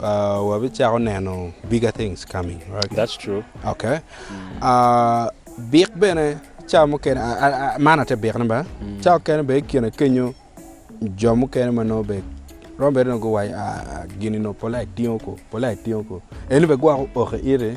Wabicako neno bigger things coming right. That's true. Okay. Uh, bik bene ca mukene man ate bikne ba mm. ca mukene be ikine kenyo jo mukene ma nongo be rombe nongo guwaco ah, gini no pola itingo ko pola itingo ko eni be gwoko oke ite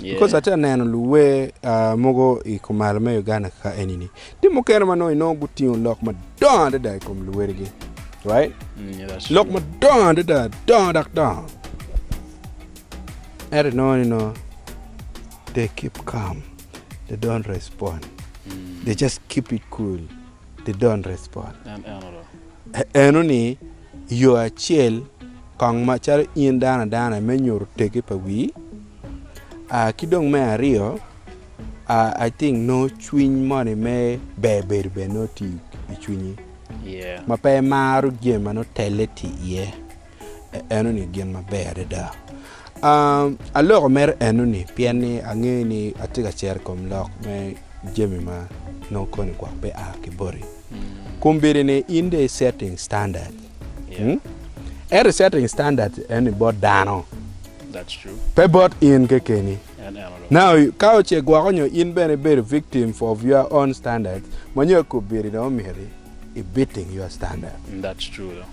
Because atye ka neno luwer mogo i kumalo me Uganda kaka eni ni, tye mukene ma nongo inongo gutingo lok madongo adada i kom luwerigi. Right? Lok madongo adada, dongo dok dongo. Ento inongo ni nongo they keep calm, they don't respond. They just keep it cool, they don't respond. Eno ni, i yo acel, kong macalo in dano adana me nyuto teggi pa wii, ki dong me aryo, I think nongo cwiny moni me ber bedo bene nongo tye i cwinyi ma pe imaro jami ma nongo telle tye iye. Enoni gin maber adada. Aloko mere enoni pien ni angeyo ni atye ka cero i kom lok me jami ma nongo koni gwok pe a ki boti. Kombeddi ni in dong i setting standard. Hmm? Ento i setting standard enoni bot dano. That's true. Pe bot in kekeni. En eno dong. Now, ka oce gwoko nyo in bene ibedo victim for of your own standard, ma nyo kombeddi dong omyero i beating your standard. That's true dong.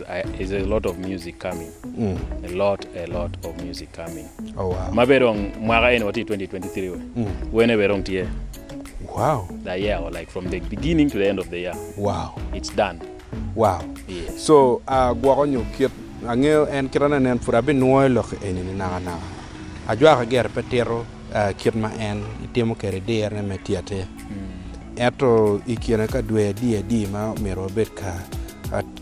Is a lot of music coming a lot a lot of music coming oh wow ma bed dong mwaka eni watye i 2023 we wene bene dong tye wow the year or like from the beginning to the end of the year wow it's done wow yeah so uh, gwoko nyo kit angeyo en kit ane nen pud abinwoyo lok eni ni naka naka ajwaka gire pe tito uh, kit ma en itimo kede dirne me tyete ento i kine ka dwe adi adi ma myero wabed ka uh,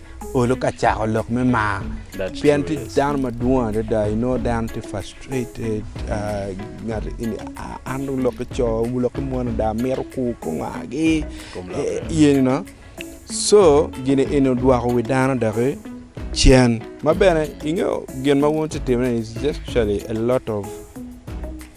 Olo ka cako lok me mar pien tye dano madwong adada inongo dano tye frustrated an dong lok ki co lok ki mon ada amito kur kongagi co gini eni odwoko wi dano doki cen ma bene ingeyo gin ma wun wutye ka timone ni is just actually a lot of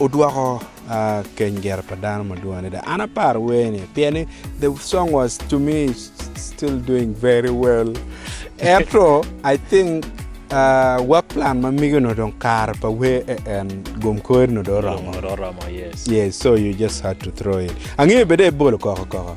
odwoko keny gere pa dano madwong adada an aparo wer ni pien ni the song was to me still doing very well ento I think work plan ma mege onongo dong kare pa wer en gum kore onongo dong oromo yes so you just had to throw it angeyo bene ibolo koko koko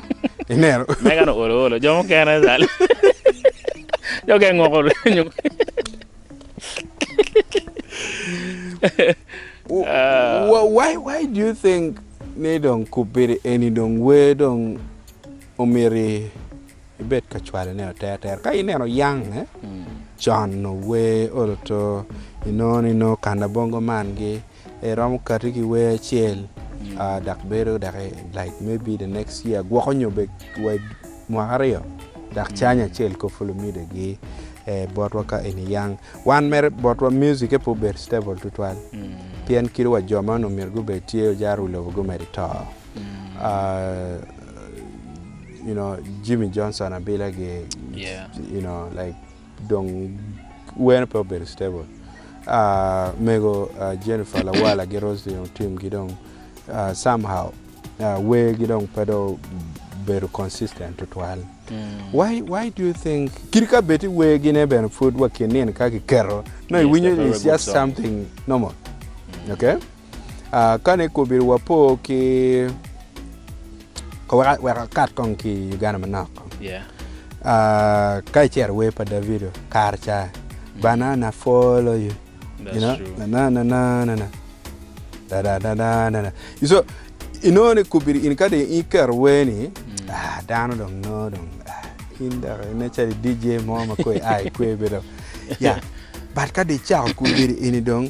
Ineno? Megan oolo oolo jo mukene zal. Jo mukene ngoko nyo. Wh- Why, why do you think ni dong kubedi eni dong wer dong omiti ibed ka cwalone aterter? Ka ineno yang eh? Con ower olo to inongo ni nongo kanabongo man gi Iromo kati ki wer acel dok bedo dok like maybe the next year gwoko nyo bed wed mwaka aryo dok canya acel kop fu lumide gi botwa ka eni yang wan mere botwa music pe obedo stable tutwal pien kit wa jo ma onongo myero gubed tye ojaro wi lobo gumedi to you know Jimmy Johnson abila gi you know like Dong weno pe obedo stable. Mego Jennifer lawala gi Rose dong team gi dong some how wer gi dong pe dong obedo consistent tutwal. Why why do you think kit ka bed i wer gi ne bene pud wa kin nino ka ki keto no i winyo is just something normal. Okay. Kane kobiri wapo ki wek akat kong ki i Uganda manok, ka icito i wer pa Davido kare ca, Banana follow you, nananana, dadadadana, so inongo ni kobiri in ka dong iketo wer ni dano dong nongo dong in dok inen calo i DJ mo ma kong ia i kwer bene dok but ka dong icako kobiri eni dong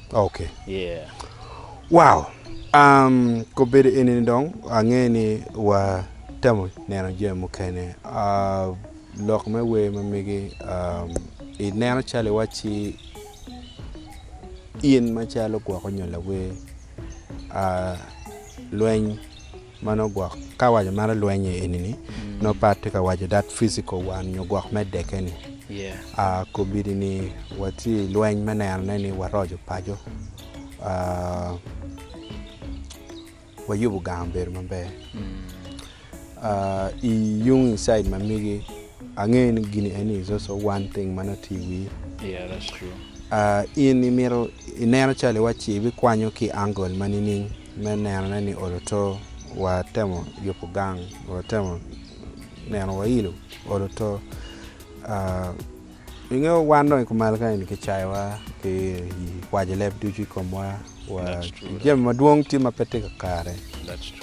Ok. Yeah. Wow. Um, kobedo eni ni dong ange ni wa temo neno jami mukene. Uh, lok me wer ma migi um, i neno calo iwacci in macalo gwoko nyo lawer uh, lweny Ma nongo gwok ka awaco meno lwenye eni-ni nongo pat tye ka waco that physical one nyo gwok me deke-ni. Kobedi-ni watye i lweny me nenone ni waroco paco, wayubo gang obedo maber. I yung i cid ma megi angeyo ni gini eni is also one thing ma nongo tye i wii. In imito ineno calo iwaci ibikwanyo ki angle ma nining? me nenone ni olo to, watemo yubo gang, watemo neno wailo olo to. Inge wan dong i kumal kany ni kicayowa ki kwaco leb ducu i komwa wa jami madwong tye ma pe tye kakare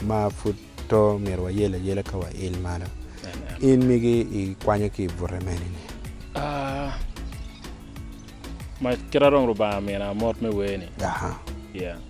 ma pud to myero wayel ayela ka wail malo. In migi ikwanyo ki i bute mene ni? Kit ma dong Lubanga omina mot me wer ni.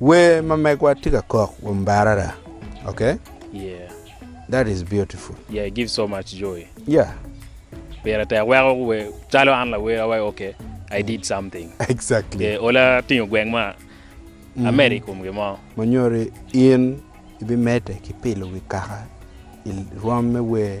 Wer ma megwa tye ka kok wa mbarara ok yeah that is beautiful yeah it gives so much joy yeah pire tek weko wer calo an lawer awaco ok I did something exactly yeah ola tingo gweng ma mm-hmm. amed i kom gimo monyori in ibimede ki pilo wi kaka i rwom me wer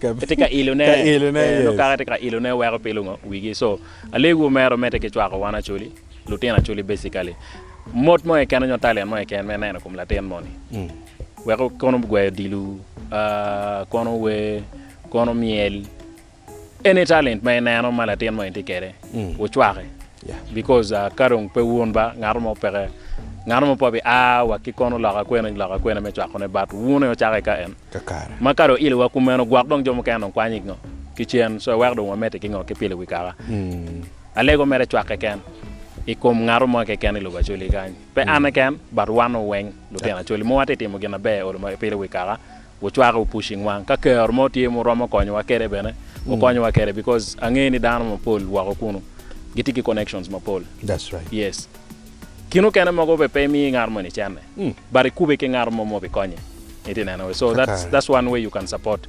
Kitye ka ilone, Ka ilone, ee, nongo yes. kaka itye ka ilone weko pilo ngo wigi. So, alego omera omedde ki cwako wan Acholi, lutino Acholi basically, mot mo keken nyo talent mo keken me neno kom latin moni. Weko kono gweyo odilo, ah, kono wer, kono myel, any talent ma ineno ma latin moni tye kede, wucwake. Yeah. Because ah, ka dong pe wun ba, ngato mo peke, ngato mo pe bi a wa ki kono loka kwena loka kwena me cwakone, but wun aye wucake ka en. kakare. Ma kare oilo wa kumeno gwok dong jo mukene dong kwanyo ingo ki cen so iweko dong wamete ki ngo ki pilo wi kaka alego mere cwak keken ikom ngato mo keken ilobo Acholi kany pe an keken but wano weng lutino Acholi mowa tye timo gin na ber olo ma ipilo wi kaka wucwake wu pushing wang ka kero mo tye mu romo konyo wa kede bene wu konyo wa kede because ange ni dano ma pol woko kunu gitye ki connections ma pol yes. Kin okene mogo be pe imiyo ngat moni cene but ikube ki ngat mo ma obi konye in ti neno so that's that's one way you can support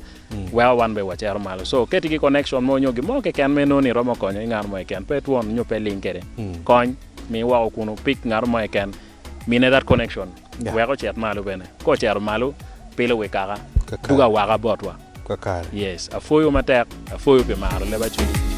weko wan be wacero malo so keti ki connection mo nyo gin mo keken ma inongo ni iromo konyo ki ngat mo keken pe twon nyo pe ling kede kony mi woko kunu pick ngat mo keken mine that connection Wek ocit malo bene. Ka ocito malo, pilo wi kaka, dugo awaka botwa. Yes, apwoyo matek. Apwoyo pi maro leb Acwiny.